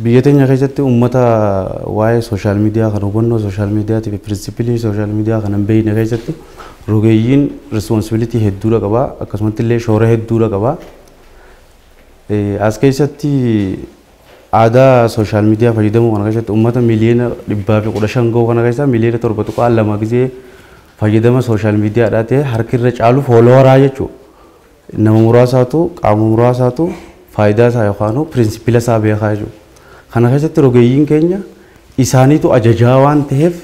Biyya teenya keessatti uummata waa'ee social media kana hubannoo social media tiif principle social media kana hin beekne keessatti rogeeyyiin responsibility hedduudha qaba akkasumatti illee shoora hedduudha qaba. As keessatti aadaa social media fayyadamuu kana keessatti uummata miliyoona dhibbaa fi kudha shan gahu kana keessaa miliyoona torba tuqaa lama gizee fayyadama social media dhaa ta'e harki irra caalu fooloowaraa jechuudha. Nama muraasaatu, qaama muraasaatu faayidaa isaa yookaanuu pirinsipila isaa beekaa jechuudha. Kana keessatti rogeeyyiin keenya isaaniitu ajajaa waan ta'eef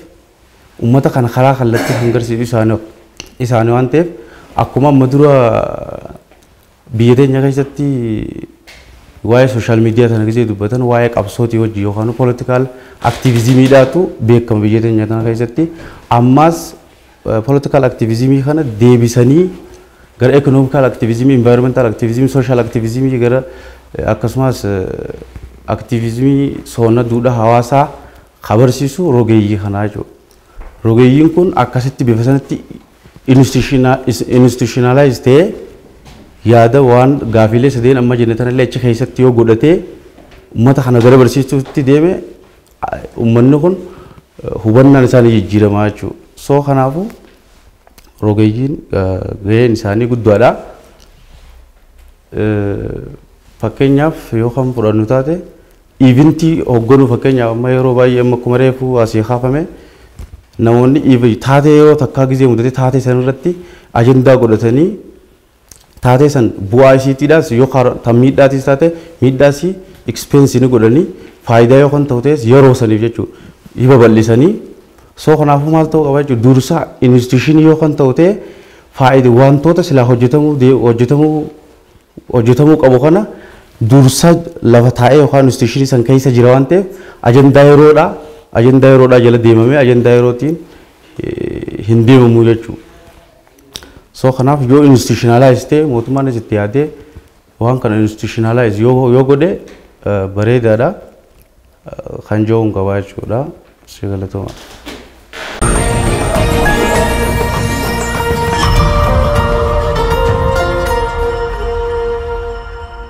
ummata kana karaa kallattii kan garsiisu isaani isaani waan ta'eef akkuma amma dura biyya teenya keessatti waa'ee sooshaal miidiyaa sana gisee dubbatan waa'ee qabsootii wajji yookaanuu poolitikaal aktiivizimiidhaatu beekama biyya teenya tana keessatti ammaas Political Activism kana deebisanii gara Economical Activism, Environmental Activism, Social Activism gara akkasumas Activism soona duudha hawaasaa kabarsiisu rogeeyyii kanaa jechuudha. Rogeeyyiin kun akkasitti bifa sanatti institutionalize ta'ee yaada waan gaafiilee sadeen amma jenne tanallee achi keessatti yoo godhatee ummata kana gara barsiistuutti deeme Ummanni kun hubannaan isaa ni jijjiirama jechuudha. So kanaafuu rogeeyyiin gaheen isaanii guddaadha. Fakkeenyaaf yoo kan fudhannu taate iivintii hogganuu fakkeenyaaf amma yeroo baay'ee amma akkuma reefuu asii kaafame namoonni taatee yoo takkaa gizee mudatee taatee sanarratti ajandaa godhatanii taatee san bu'aa isiitiidhaas yoo kaaro tan miidhaatiis taate miidhaas expense ni godhanii faayidaa yoo kan ta'u ta'es yeroo saniif jechuu ni babal'isanii soo kanaafuu maal ta'uu qaba jechuu dursaa instituushinii yoo kan ta'u ta'e faayida wantoota silaa hojjetamuu dee- hojjetamuu hojjetamuu qabu kana dursa lafa taa'ee yookaan instituushinii san keessa jira waan ta'eef ajandaa yeroodhaa ajandaa yeroodhaa jala deemamee ajandaa yerootiin eh, hin deemamu jechuudha. So kanaaf yoo institutionalize ta'e mootummaanis itti yaadee waan kana institutionalize yoo yoo godhe eh, bareedaadha eh, kan jedhuun qabaa jechuudha. Si galatoomaa.